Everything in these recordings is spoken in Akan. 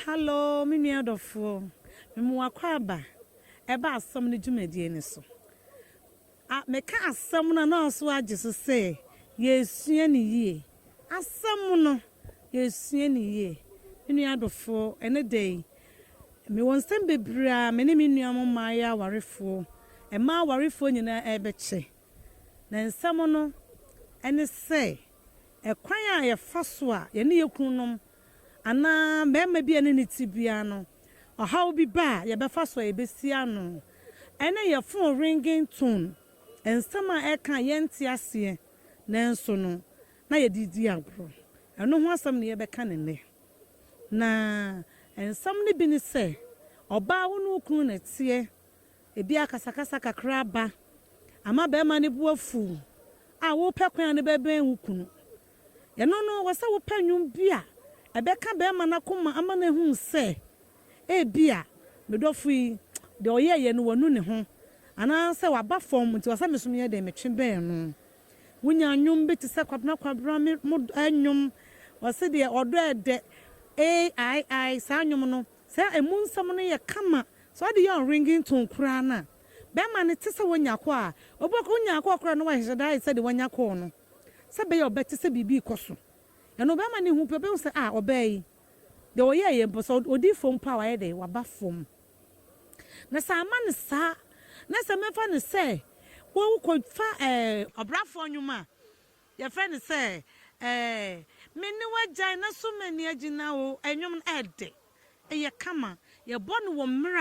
Hallo me nua dɔfoɔ, mema wo akwaaba ɛba asɛm no dwumadie no so. A meka asɛm no a na ɔso agye so sɛ yɛresua no yie. Asɛm no, yɛresua no yie. Me nua dɔfoɔ, ɛnɛ da yi, Mewɔ nsɛm bebree a me ne me nuanom mmaeɛ awarefoɔ, mmaa awarefoɔ nyinaa rebɛkyɛ. Na nsɛm no ne sɛ, ɛkwan a yɛfa so a yɛne yɛn kununom anaa barima bi a yɛne no te biara no, ɔhaw bi ba a, yɛbɛfa so a yɛbɛsi ano. Ɛne yɛn phone ringing tone, nsɛm a ɛreka a yɛnte aseɛ nanso no na yɛde di agorɔ. Ɛno ho asɛm na yɛbɛka no nnɛ. Na nsɛm no bi ne sɛ, Ɔbaa wo ne wo kunu na ɛteɛ, ebia akasakasa kakra aba ama barima no bo afuw a, worepɛ kwan a na bɛbɛn wo kunu. Ɛno no, ɛwɔ sɛ wopɛ nnwom bi a ɛbɛka barima no akoma ama no ahu sɛ ebia me dɔfo yi, deɛ ɔyɛeɛ no, wanu ne ho anaasɛ waba fam nti ɛwɔ sɛ me nso meyɛ dɛn? Metwe bɛn no. Wonya nnwom bi te sɛ Kwabena Kwabena me mo dɔ nnwom, wɔse deɛ ɔdɔ ɛdɛ, AII, saa nnwom no, sɛ ɛmu nsɛm no yɛ kama, sɛ wɔde yɛ wɔn ringing tone koraa no a, bɛrima no te sɛ wanya kɔ a, obi kɔ, wonya kɔ koraa na wahyehyɛ da ayɛ sɛdeɛ wanya kɔɔ no, sɛ ɛbɛyɛ a ɔbɛte sɛ biribi rekɔ so. Ɛno bɛrima no hu pɛ, ɔbɛhu sɛ ah, ɔbaa yi, deɛ ɔyɛeɛ mpo, sɛ ɔdi fam mpo a, wayɛ dɛn? Waba fam. Na sɛ amma no saa, na sɛ mɛfa no sɛ wokɔfa ɛɛ. Ɔbrafoɔ nnwom a, yɛfrɛ no sɛ ɛɛ me ne w'agyae na so m'ani agyina wo. Nnwom no ɛɛdɛ, ɛyɛ kama. Yɛbɔ no wɔ mmerɛ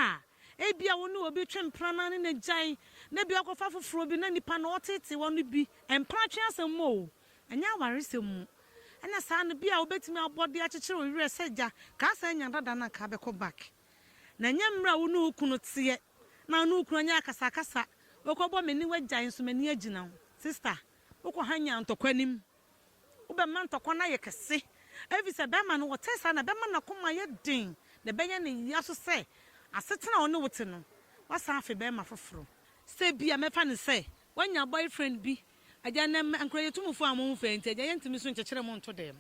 a ebia wo ne obi twe mpena na ne no gyae, na ebia wokɔfa foforɔ bi na nipa no ɔtetee hɔ no bi. Mpena atwe asɛm mu o, ɛnyɛ awaresɛm mu. Ɛna saa no, bi a wobɛtumi abɔ de akyekyere wo werɛ sɛ gya, kaa saa nya dada no a kaa bɛkɔ back. Na ɛnyɛ mmerɛ a wo ne wo kunu teɛ na wo ne wo kunu anyɛ akasakasa wokɔbɔ me ne wo agyae nso m'ani agyina wo. Sista, wokɔ ha nyaa ntɔkwa anim. Wobɛma ntɔkwa no ayɛ kɛse ɛfiri sɛ barima no ɔtɛɛ saa na ɛbɛma n'akoma ayɛ den na ɛbɛyɛ ne ya nso sɛ asetena a ɔne wo te no, woasan afe barima foforɔ. Sɛ ebia mɛfa no sɛ woanya boyfriend bi Agya, nnɛ mmɛ ankorɛ yɛtumfoɔ a moho fɛ nti, Agya, yɛntumi nso nkyekyere mo nto dɛm.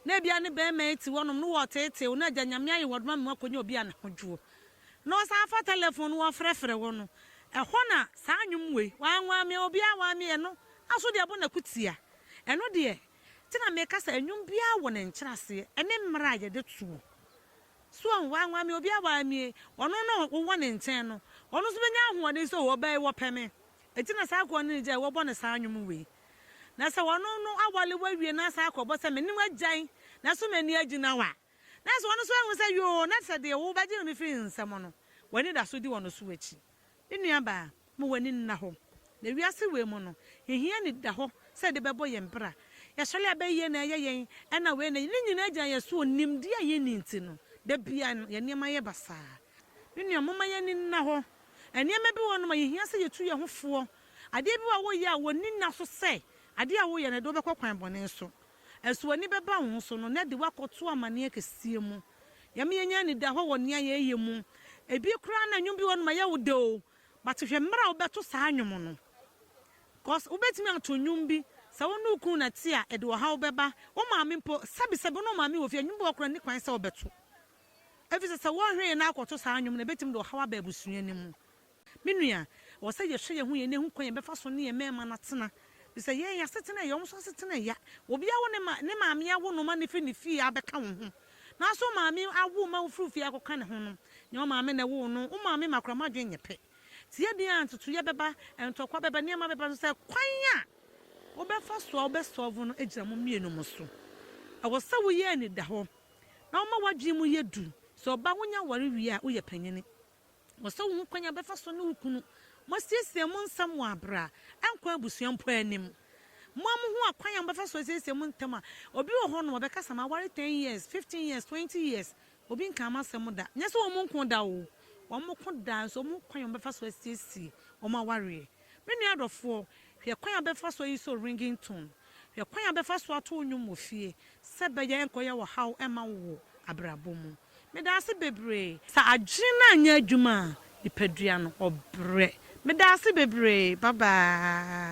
Na ebia ne barima yi te hɔnom, na wɔreteetee wo, na Agya, Nyame aye wɔde ma me moakɔnya obi a ne ho dwoɔ. Na wɔsan fa telefon no wɔrefrɛfrɛ wo no, ɛhɔ na saa nnwom wei, Wanwamea obiara wanwamea ɛno, aso deɛ ɛbɔ n'akutia, ɛno deɛ, nti na meka sɛ nnwom biara wɔ ne nkyerɛaseɛ, ɛne mmerɛ a yɛde toɔ. So wahu? Wanwamea obiara wanwamea ɔno na wowɔ ne nkyɛn no, ɔno nso bɛnya ahoɔden sɛ, Oo, ɔbaa yi, wɔpɛ me. Enti na saa akoa no anigye a wɔbɔ no saa nnwom wei. Na sɛ ɔno no awale wawie na asan akɔ bɔ sɛ me ne wo agyae na so m'ani agyina wo a, na sɛ ɔno nso ahu sɛ yoo na sɛ deɛ wobɛgye me firi nsam no w'ani da so di ɔno so akyi. Me nuabaa, ma w'ani nna hɔ. Na wiase wei mu no, yɛhia anidahɔ sɛ yɛde bɛbɔ yɛn bra. Yɛsɔre a bɛyɛ na ɛyɛ yɛn, ɛna wei na ne nyinaa gyina yɛn so wɔ nimdeɛ a yɛnni nti no, da biara no yɛn nneɛma yɛ basaa. Me nua, momma yɛn ani nna hɔ Nneɛma bi wɔ hɔnom a yehia sɛ yetu yɛn ho foɔ. Adeɛ bi wɔ hɔ a woyɛ a wonni nna so sɛ adeɛ a woyɛ no ɛde wo bɛkɔ kwan bɔne so. Ɛso w'ani bɛba wo ho so no na ɛde wo akɔto amaneɛ kɛseɛ mu. Yɛma yɛnya anidahɔ wɔ nea yɛyɛ mu. Ebia koraa na nnwom bi wɔ hɔnom a ɛyɛ wo dɛ o, but hwɛ mmerɛ a wobɛto saa nnwom no. Cause wobɛtumi ato nnwom bi, sɛ wo ne wo kunu na ɛte a, ɛde ɔhaw bɛba. Wo maame mpo, sɛbesɛbe wo ne wo maame wɔ fie a, nnwom bi wɔ hɔ koraa a nni kwan sɛ wobɛto. efisɛ sɛ wɔhwere yɛn na akɔto saa nnwom no a, ebetumi de ɔhaw aba abusua no mu. Me nua, ɛwɔ sɛ yɛhwɛ yɛn ho yɛn na yehu kwan a yɛbɛfa so ne yɛn mmarima no atena, efisɛ yɛn asetena yɛ, wɔn nso asetena yɛ. Obi awo ne ma, ne maame awo no ma no fi ne fie abɛka wo ho. Nanso wo maame awo ma wofiri wo fie akɔka ne ho no, nyɛ wo maame na ɛwoo no. Wo maame ma koraa mo adwene nyɛ pɛ. Te yɛ deɛ a, ntutuiɛ bɛba, ntɔkwa bɛba, nneɛma bɛba, nanso sɛ kwan a wobɛfa so a wobɛsɔlve no gyina mo mmienu mo so. Ɛwɔ sɛ woyɛ anidahɔ. na woma w'adwene mu yɛ duru. Sɛ ɔbaa wunya aware wie a, woyɛ panyin. Wɔ sɛ wuhu kwan a wobɛfa so ne wo kunu moasiesie mo nsɛm wɔ bere a ɛnkɔ abusua mpo anim. Mo a muhu akwan a mobɛfa so asiesie mo ntam a, obi wɔ hɔnom a ɔbɛkasa ma aware ten years, fifteen years, twenty years, obi nkaa m'asɛm da. Nyɛ sɛ wɔn nko da oo, wɔn ko daa nso wɔn ho kwan a wɔbɛfa so asiesie wɔn awareɛ. Me nua dɔfoɔ, hwɛ kwan a bɛfa so ayi so ringing tone, hwɛ kwan a bɛfa so ato wo nnwom wɔ fie sɛ bɛyɛ nkɔyɛ ɔhaw mma wo wɔ abrabɔ mu. Meda ase bebree. Sɛ adwene no anyɛ adwuma a, nipadua no, ɔbrɛ. Meda ase bebree. Bye bye.